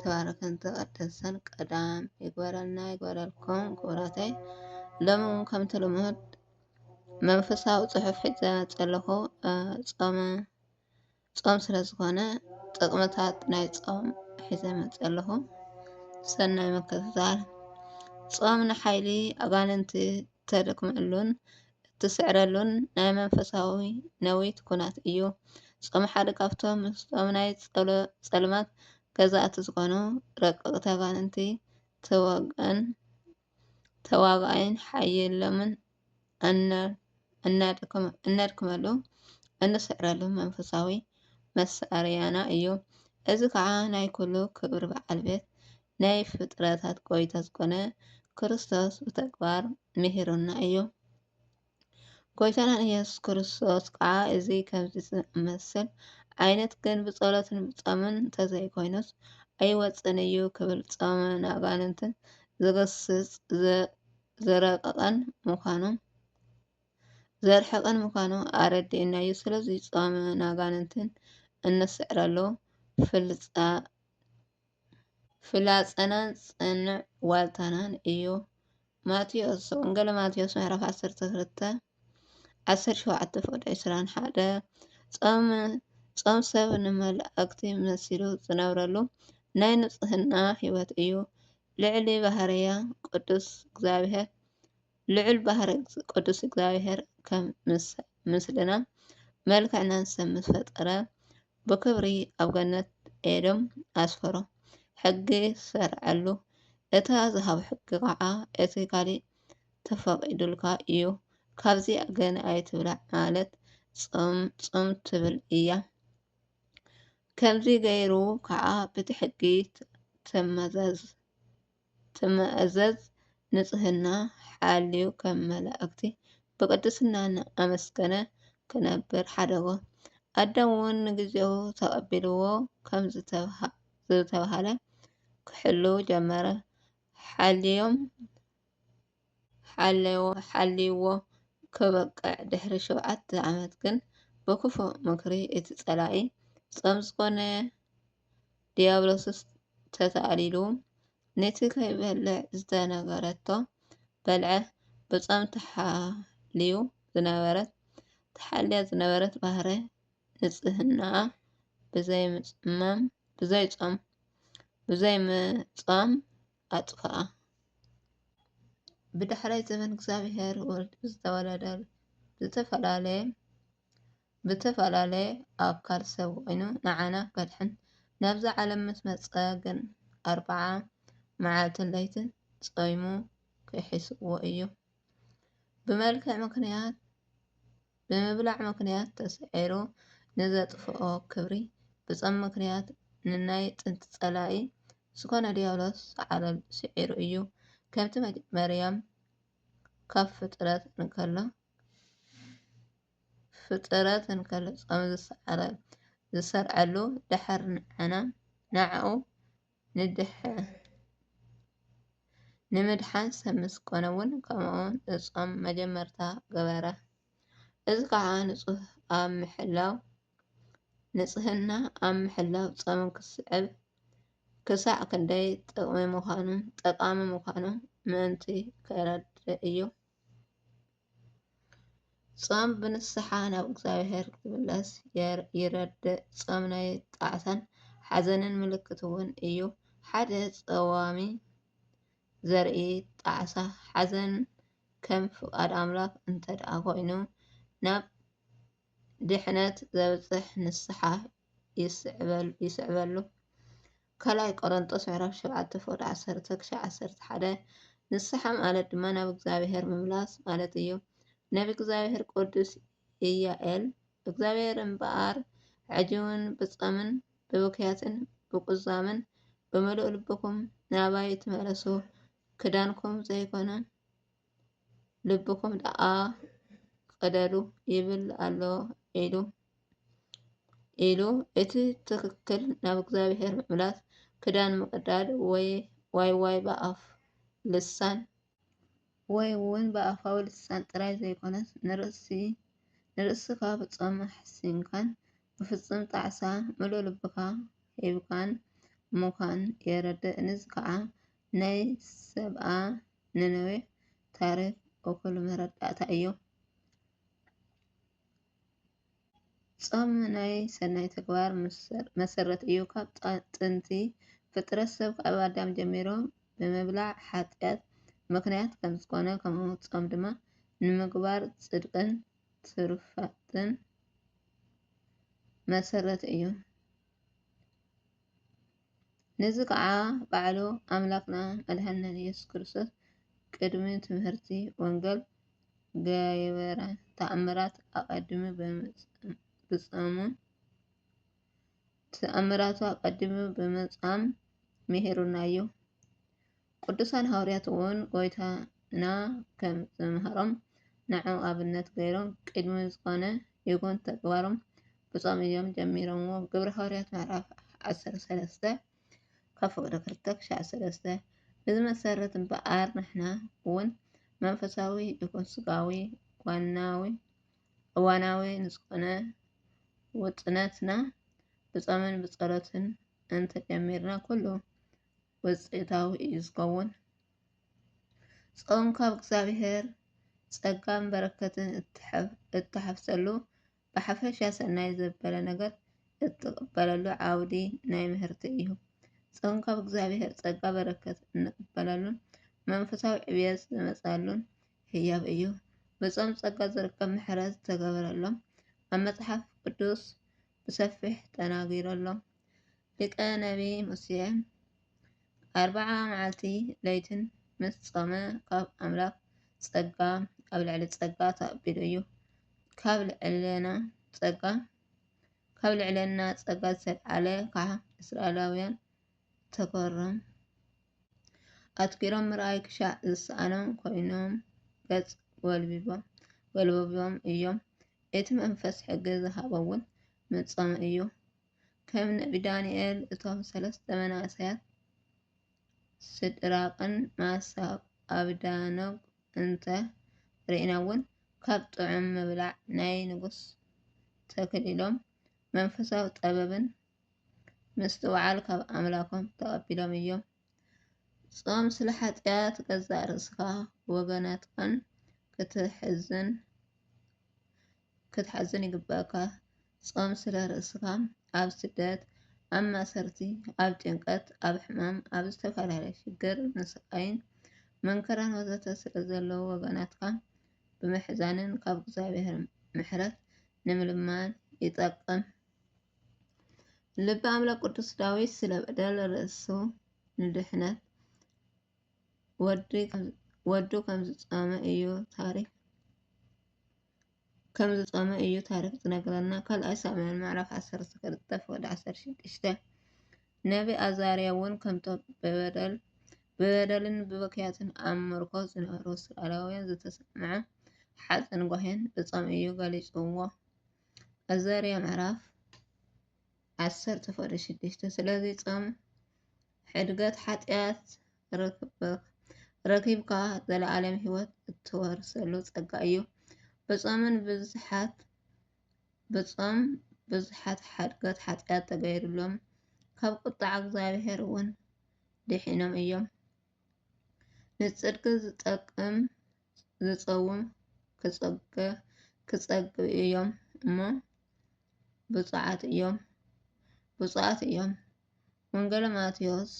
ተባረከን ተቀደሰን ቀዳም ይግበረልና ይግበረልኩም ክቡራተይ ሎሚ እውን ከምቲ ልሙድ መንፈሳዊ ፅሑፍ ሒዘ ዘለኹ ፆመ ፆም ስለ ዝኾነ ጥቅምታት ናይ ፆም ሒዘ መፅ ኣለኹ ሰናይ ምክትታል ፆም ንሓይሊ ኣጋንንቲ እተደክመሉን እትስዕረሉን ናይ መንፈሳዊ ነዊት ኩናት እዩ። ጾም ሓደ ካብቶም ምስጦም ናይ ጸልማት ገዛእቲ ዝኾኑ ረቀቅ ተጋንንቲ ተወግእን ተዋጋኣይን ሓይሎምን እነድክመሉ እንስዕረሉ መንፈሳዊ መሳርያና እዩ። እዚ ከዓ ናይ ኩሉ ክብሪ በዓል ቤት ናይ ፍጥረታት ጎይታ ዝኮነ ክርስቶስ ብተግባር ምሂሩና እዩ። ጎይታና ኢየሱስ ክርስቶስ ከዓ እዚ ከምዚ ዝኣመሰል ዓይነት ግን ብጸሎትን ብጾምን እንተዘይኮይኑስ ኣይወጽእን እዩ ክብል ጾመ ኣጋንንትን ዝግስጽ ዝረቀቀን ምዃኑ ዘርሕቅን ምዃኑ ኣረዲኡና እዩ። ስለዚ ጾመ ኣጋንንትን እንስዕረሉ ፍልፃ ፍላጸናን ጽኑዕ ዋልታናን እዩ። ማቴዎስ ወንጌል ማቴዎስ ምዕራፍ 12 17 ፍቅዲ 21 ጾም ጾም ሰብ ንመላእክቲ መሲሉ ዝነብረሉ ናይ ንጽህና ህይወት እዩ። ልዕሊ ባህርያ ቅዱስ እግዚኣብሔር ልዑል ባህሪ ቅዱስ እግዚኣብሔር ከም ምስልናን መልክዕናን ሰብ ምስ ፈጠረ ብክብሪ ኣብ ገነት ኤዶም ኣስፈሮ ሕጊ ሰርዐሉ። እታ ዝሃብ ሕጊ ከዓ እቲ ካሊእ ተፈቂዱልካ እዩ ካብዚኣ ግን ኣይትብላዕ ማለት ጾም ጾም ትብል እያ። ከምዚ ገይሩ ከዓ ብቲ ሕጊ ተመዛዝ። ትማእዘዝ ንጽህና ሓልዩ ከም መላእክቲ ብቅድስና እናኣመስገነ ክነብር ሓደጎ። ኣዳም እውን ንግዜኡ ተቐቢልዎ ከም ዝተብሃለ ክሕልው ጀመረ። ሓልዮም ሓልይዎ ከበቅዕ ድሕሪ ሸውዓተ ዓመት ግን ብክፉእ ምክሪ እቲ ጸላኢ ጾም ዝኮነ ድያብሎስስ ተታኣሊሉ ንቲ ከይበልዕ ዝተነገረቶ በልዐ ብጾም ተሓልዩ ዝነበረት ተሓልያ ዝነበረት ባህረ ንጽህናኣ ብዘይ ምጽማም ብዘይ ጾም ብዘይ ምጾም ኣጥፍኣ። ብዳሕራይ ዘመን እግዚኣብሔር ወልድ ብዝተወለደ ዝተፈላለየ ብተፈላለየ ኣካል ሰብ ኮይኑ ንዓና ከድሕን ናብዛ ዓለም ምስ መጸ ግን ኣርብዓ መዓልትን ለይትን ጾይሙ ክሒስዎ እዩ። ብመልክዕ ምክንያት ብምብላዕ ምኽንያት ተሰዒሩ ንዘጥፍኦ ክብሪ ብጾም ምኽንያት ንናይ ጥንቲ ጸላኢ ዝኾነ ዲያብሎስ ሰዓረሉ ስዒሩ እዩ። ከምቲ መርያም ካብ ፍጥረት እንከሎ ፍጥረት እንከሎ ጾም ዝሰዓረ ዝሰርዐሉ ድሕር ንዓና ንዓኡ ንምድሓን ሰብ ምስ ኮነ እውን ከምኡውን እጾም መጀመርታ ገበረ። እዚ ከዓ ንፁህ ኣብ ምሕላው ንፅህና ኣብ ምሕላው ፆም ክስዕብ ክሳዕ ክንደይ ጥቕሚ ምዃኑ ጠቓሚ ምዃኑ ምእንቲ ከረድእ እዩ። ጾም ብንስሓ ናብ እግዚኣብሔር ክምለስ ይረድእ። ጾም ናይ ጣዕሳን ሓዘንን ምልክት እውን እዩ። ሓደ ጸዋም ዘርኢ ጣዕሳ፣ ሓዘን ከም ፍቓድ ኣምላኽ እንተድኣ ዀይኑ፣ ናብ ድሕነት ዘብጽሕ ንስሓ ይስዕበሉ። ካልኣይ ቆሮንጦስ ምዕራፍ ሸውዓተ ፍቕዲ ዓሰርተ ክሻዕ ዓሰርተ ሓደ ንስሓ ማለት ድማ ናብ እግዚኣብሔር ምምላስ ማለት እዩ። ነቢ እግዚኣብሔር ቅዱስ ኢያኤል እግዚኣብሔር እምበኣር ሕጂውን ብጸምን ብብክያትን ብቁዛምን ብምሉእ ልብኩም ናባይ ትመለሱ ክዳንኩም ዘይኮነ ልብኹም ደኣ ቕደዱ ይብል ኣሎ ኢሉ ኢሉ እቲ ትክክል ናብ እግዚኣብሔር ምምላስ ክዳን ምቕዳድ ወይ ዋይ ዋይ ብኣፍ ልሳን ወይ እውን ብኣፋዊ ልሳን ጥራይ ዘይኮነስ ንርእስኻ ብጾም ሓሲንካን ብፍጹም ጣዕሳ ምሉእ ልብኻ ሂብካን ምዃን የረድእ። እዚ ከዓ ናይ ሰብኣ ነነዌ ታሪኽ እኹል መረዳእታ እዩ። ጾም ናይ ሰናይ ተግባር መሰረት እዩ። ካብ ጥንቲ ፍጥረት ሰብ ካብ ኣዳም ጀሚሮም ብምብላዕ ሓጢኣት ምክንያት ከም ዝኾነ ከምኡ ጾም ድማ ንምግባር ጽድቅን ትሩፋትን መሰረት እዩ። ነዚ ኸኣ ባዕሉ ኣምላኽና መድሓኒናን ኢየሱስ ክርስቶስ ቅድሚ ትምህርቲ ወንገል ገበረ ተኣምራት ኣቀዲሙ ብጸሙን ተኣምራቱ ኣቀዲሙ ብምጻም ሚሂሩና እዩ። ቅዱሳን ሃውርያት እውን ጎይታና ከም ዝመሃሮም ንዑ ኣብነት ገይሮም ቅድሚ ዝኾነ ይኹን ተግባሮም ብጾም እዮም ጀሚሮምዎ። ግብረ ሃውርያት ምዕራፍ ዓሰርተ ሰለስተ ካብ ፍቕዲ ክልተ ክሻዕ ሰለስተ እዚ መሰረት እምበኣር ንሕና እውን መንፈሳዊ ይኹን ስጋዊ ዋናዊ እዋናዊ ንዝኾነ ውጥነትና ብጾምን ብጸሎትን እንተጀሚርና ኩሉ ውፅኢታዊ እዩ ዝኸውን። ጾም ካብ እግዚኣብሔር ጸጋን በረከትን እትሓፍሰሉ ብሓፈሻ ሰናይ ዘበለ ነገር እትቕበለሉ ዓውዲ ናይ ምህርቲ እዩ። ጾም ካብ እግዚኣብሔር ጸጋ በረከት እንቕበለሉን መንፈሳዊ ዕብየት ዝመጻሉን ህያብ እዩ። ብጾም ጸጋ ዝርከብ ምሕረት ዝተገበረሎም ኣብ መጽሓፍ ቅዱስ ብሰፊሕ ተናጊረሎም። ሊቀ ነቢይ ሙሴ ኣርብዓ መዓልቲ ለይትን ምስ ጾመ ካብ ኣምላኽ ጸጋ ኣብ ልዕሊ ጸጋ ተቐቢሉ እዩ። ካብ ልዕልና ጸጋ ካብ ልዕልና ጸጋ ዝተልዓለ ከዓ እስራኤላውያን ተገሮም ኣትኪሮም ምርኣይ ክሻዕ ዝሰኣኖም ኮይኖም ገጽ ወልቢቦም ወልቦቢቦም እዮም። እቲ መንፈስ ሕጊ ዝሃቦ እውን ምጾመ እዩ። ከም ነቢ ዳንኤል፣ እቶም ሰለስተ መናእሰያት ሲድራቅን መሳቅን ኣብደናጎን እንተ ርኢና'ውን፣ ካብ ጥዑም ምብላዕ ናይ ንጉስ ተከሊሎም፣ መንፈሳዊ ጥበብን ምስትውዓልን ካብ ኣምላኮም ተቀቢሎም እዮም። ጾም ስለ ሓጢኣት ገዛእ ርእስካን ወገናትካን ከተሕዝን ክትሓዝን ይግበኣካ ጾም ስለ ርእስካ ኣብ ስደት ኣብ ማሰርቲ ኣብ ጭንቀት ኣብ ሕማም ኣብ ዝተፈላለየ ሽግር ንስቃይን መንከራን ወዘተ ስለ ዘለዉ ወገናትካ ብምሕዛንን ካብ እግዚኣብሔር ምሕረት ንምልማን ይጠቅም ልበ ኣምላክ ቅዱስ ዳዊት ስለ በደል ርእሱ ንድሕነት ወዱ ከም ዝጾመ እዩ ታሪክ። ከም ዝጾመ እዩ ታሪክ ዝነግረና ካልኣይ ሳሙኤል ምዕራፍ ዓሰርተ ክልተ ፍቅዲ ዓሰርተ ሽዱሽተ ነቢ ኣዛርያ እውን ከምቶም ብበደልን ብብክያትን ኣብ ምርኮ ዝነበሩ እስራኤላውያን ዝተሰምዐ ሓዘን ጓሂን ብጾም እዩ ገሊጽዎ ኣዛርያ ምዕራፍ ዓሰርተ ፍቅዲ ሽዱሽተ ስለዚ ጾም ሕድገት ሓጢኣት ረኺብካ ዘለኣለም ሕይወት እትወርሰሉ ጸጋ እዩ። ብጾምን ብዙሓት ብጾም ብዙሓት ሓድገት ሓጢኣት ተገይሩሎም ካብ ቁጣዕ እግዚኣብሔር እውን ድሒኖም እዮም። ንጽድቂ ዝጠቅም ዝጸውም ክጸገ ክጸግብ እዮም እሞ ብፁዓት እዮም ብፁዓት እዮም። ወንጌል ማቴዎስ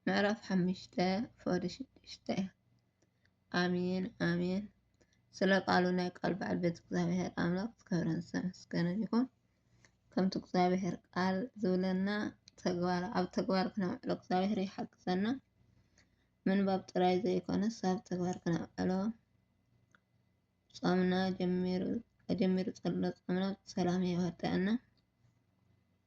ምዕራፍ ሓምሽተ ፎሊ ሽዱሽተ ኣሜን ኣሜን። ስለ ቃሉ ናይ ቃል በዓል ቤት እግዚኣብሔር ኣምላኽ ዝከብረን ዝተመስገነን ይኹን። ከምቲ እግዚኣብሔር ቃል ዝብለና ተግባር ኣብ ተግባር ክነውዕሎ እግዚኣብሔር ይሓግዘና። ምንባብ ጥራይ ዘይኮነስ ኣብ ተግባር ክነውዕሎ ጾምና ጀሚሩ ጀሚሩ ጸሎ ጾምና ብሰላም የወደአና።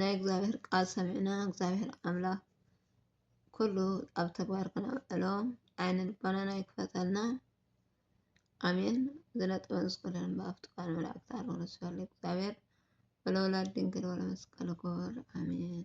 ናይ እግዚኣብሔር ቃል ሰሚዕና እግዚኣብሔር ኣምላክ ኩሉ ኣብ ተግባር ክነውዕሎ ዓይነ ልቦናና ይክፈተልና ኣሜን። ዝነጥበን ዝኮነን ብኣፍቲ ቃል መላእክት ኣርሆ ስለ እግዚኣብሔር ወለወላድ ድንግል ወለመስቀል ክቡር ኣሜን።